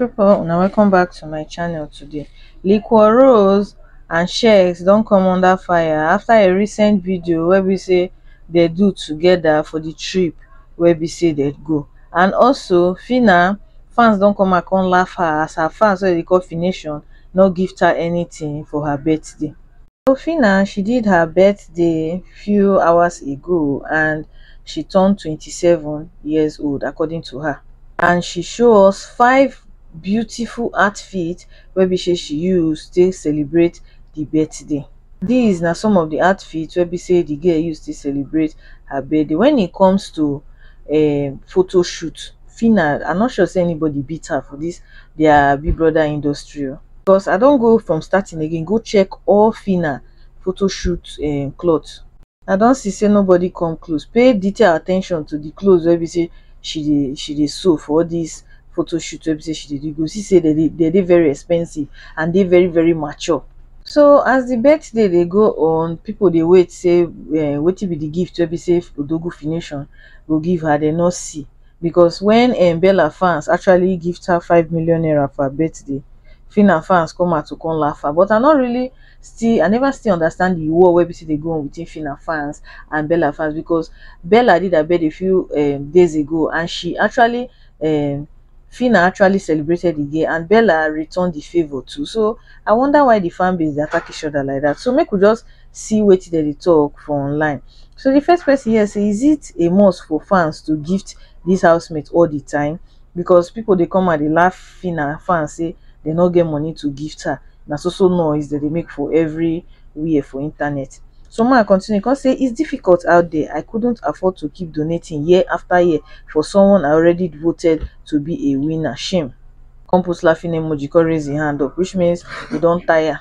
people una welcome back to my channel today liquor rose and shex don come under fire after a recent video wey be say they do together for the trip wey be say they go and also fina fans don come and come laugh her as her fans wey dey call fination no gift her anything for her birthday Rufina she did her birthday few hours ago and she turn twenty seven years old according to her and she show us five beautiful outfits wey be say she use take celebrate the birthday. These na some of the outfits wey be say the girl use take celebrate her birthday. When it comes to um photo shoot, Phyna I no sure say anybody beat her for this their big brother industry oh. Because I don go from starting again go check all Fina photo shoot um, cloth. I don see say nobody come close. Pay detail attention to the clothes wey be say she dey she dey sew for all this photo shoot wey be say she dey do. You go see say they dey they dey very expensive and dey very very mature. So as the birthday dey go on, people dey wait say um, wetin be the gift wey be say Odogu Fination go give her, they no see. because wen um bella fans actually gift her five million naira for her birthday phyna fans come out to come laugh her but I no really still I never still understand the war wey be say dey go on between phyna fans and bella fans because bella did her birthday few um days ago and she actually um phyna actually celebrated the girl and bella returned the favour too so I wonder why the fan base dey attack each other like that so make we just see wetin dem dey talk for online. So di first person hear sey is it a must for fans to gift dis house mate all di time because people dey come out dey laugh Phyna fans sey dey no get money to gift her na so so noise dem dey make for every where for internet. So ma continue come sey is difficult out there I couldn't afford to keep donating year after year for someone I already voted to be a winner shame come put laughing emoji come raise im hand up which means e don tire.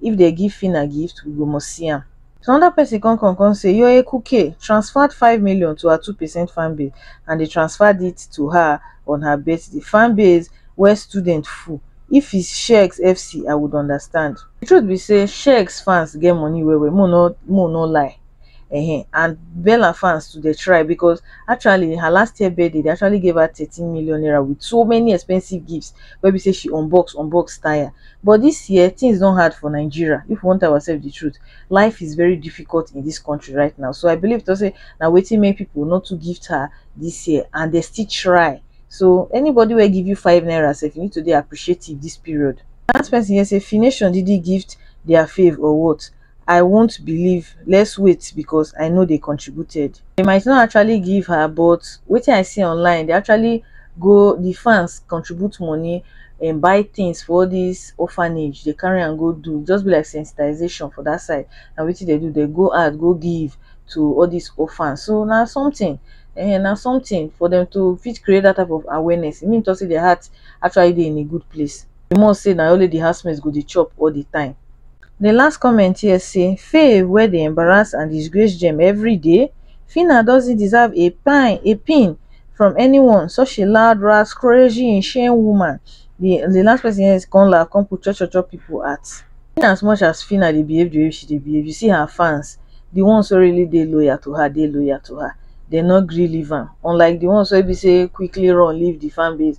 If dem give Phyna gift, we go must see am. So another person come come come say your eku kay transferred five million to her two percent fan base and they transferred it to her on her birthday. Fan base where student full. If is Shekz FC, I would understand. The truth be say Shekz fans get money well well, mo no mo no lie. Uh-huh. And Bella fans to the try because actually her last year birthday they actually gave her 13 million naira with so many expensive gifts where we say she unbox unbox tire But dis year things don hard for Nigeria if we wan tell ourselves the truth life is very difficult in dis country right now so I believe to say na wetin make people no too gift her dis year and dem still try so anybody wey give you five naira sef you need to dey appreciative dis period. Dat person here say Fination didn't gift their fave or what? i wont believe let's wait because i know they contributed they might not actually give her but wetin i see online they actually go the fans contribute money and buy things for all this orphanage they carry and go do just be like sensitization for that side and wetin they do they go out go give to all these orphans so now something and now something for them to fit create that type of awareness it means to say their heart actually they in a good place the must say now only the housemates go the chop all the time the last comment here say faye wey dey embarrass and disgrace gem everyday phyna doesnt deserve a pine a pin from anyone such a loud ras crazy insane woman the the last person here come laugh come put cho cho cho people heart in as much as phyna dey behave the way she dey behave you see her fans the ones wey really dey loyal to her dey loyal to her dem no gree leave am unlike the ones wey be say quickly run leave the fan base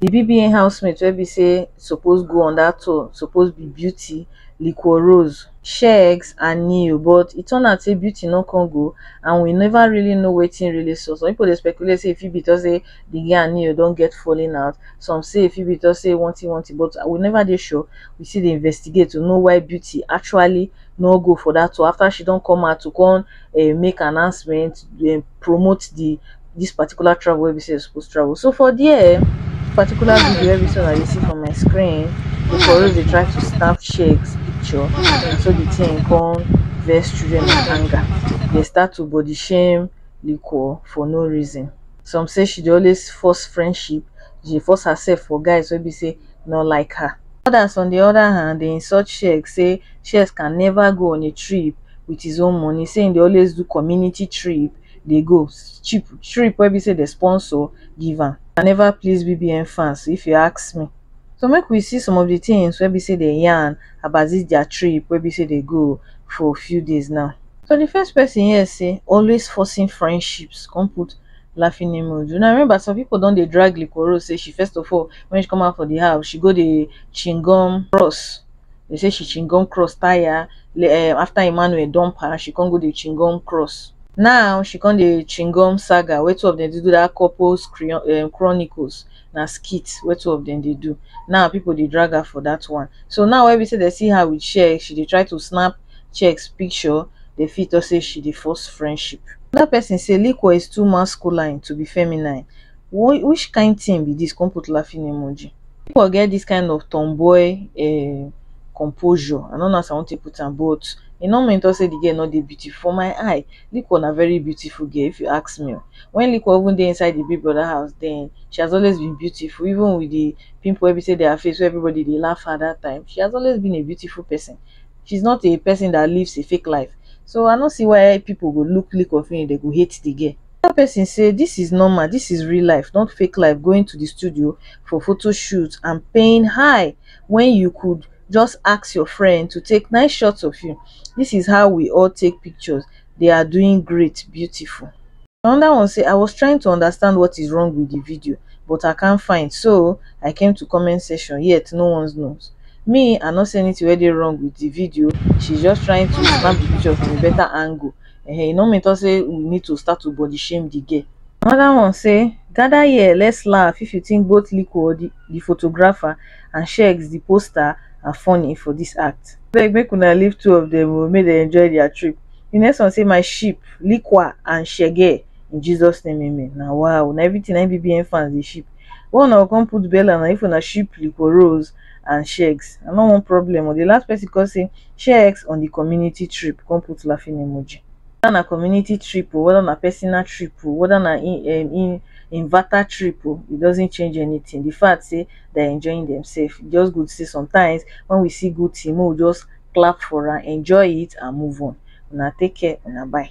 Di BBN housemate wey be say suppose go on dat tour suppose be Beauty, Liquor Rose, Sheggz and Ne-Yo but e turn out say Beauty no come go and we never really know wetin really sup. Some people dey speculate say e fit be because say di guy and Ne-Yo don get falling out, some say e fit be because say one thing one thing but we never dey sure, we still dey investigate to know why Beauty actually no go for dat tour after she don come out to come make announcement, promote di. this particular travel wey be say supposed travel so for there particular video wey be say i see for my screen the police dey try to snap shakes picture and so the thing come vex children with anger they start to body shame liquor for no reason some say she dey always force friendship she force herself for guys wey be say no like her others on the other hand dey insult sheik say sheik can never go on a trip with his own money say he dey always do community trip dey go cheap trip wey be say dem sponsor give am I never please BBN fans if you ask me so make we see some of the things wey be say dem yarn about this their trip wey be say dem go for few days now so the first person here say always forcing friendships come put laughing emoji una remember some people don dey drag Liquorose say she first of all when she come out for the house she go dey chingum bros They say she chingom cross tire eh, after Emmanuel dump her, she can't go the chingom cross. Now she can't the chingom saga where two of them they do that couples eh, chronicles na skit where two of them they do. Now people they drag her for that one. So now when we say they see her with share, she they try to snap checks picture dey fit talk say she dey force friendship. Another person say Liquor is too masculine to be feminine. which kind thing be this come put laughing emoji you for get this kind of tomboy um composure i no know as i wan take put am but e no mean talk say the girl no dey beautiful for my eye Liquor na very beautiful girl if you ask me o when Liquor even dey inside the big brother house then she has always been beautiful even with the pimple wey be say dey her face wey everybody dey laugh her that time she has always been a beautiful person she is not a person that lives a fake life so i no see why people go look Liquor finish dem go hate the girl tell pesin say dis is normal dis is real life not fake life going to di studio for photo shoot and paying high wen you could just ask your friend to take nice shots of you dis is how we all take pictures they are doing great beautiful. Another one say I was trying to understand what is wrong with the video but I can't find so I came to comment section yet no one knows. Me I no see anything wey dey wrong with the video she's just trying to snap the picture from a better angle um e no mean talk say we need to start to body shame the girl. Another one say, Gather here, let's laugh if you think both Liko, the the photographer, and Sheggz, the poster, are funny for this act. Abeg make una leave two of them o, make dem enjoy their trip. The next one say, My ship, Likwa and Shege, in Jesus name amen. Na wa o, na everything na im BBN fans dey ship. Why una go come put bella na if una ship Liko Rose and shegz i no want problem o, di last person come say shegz on di community trip come put laughing emoji. Whether na community trip o, whether na personal trip o, whether na in inverter trip o, it doesn't change anything di fact say they are enjoying themselves, e just good say sometimes when we see good thing make we just clap for am, enjoy it and move on. Una take care, una bye.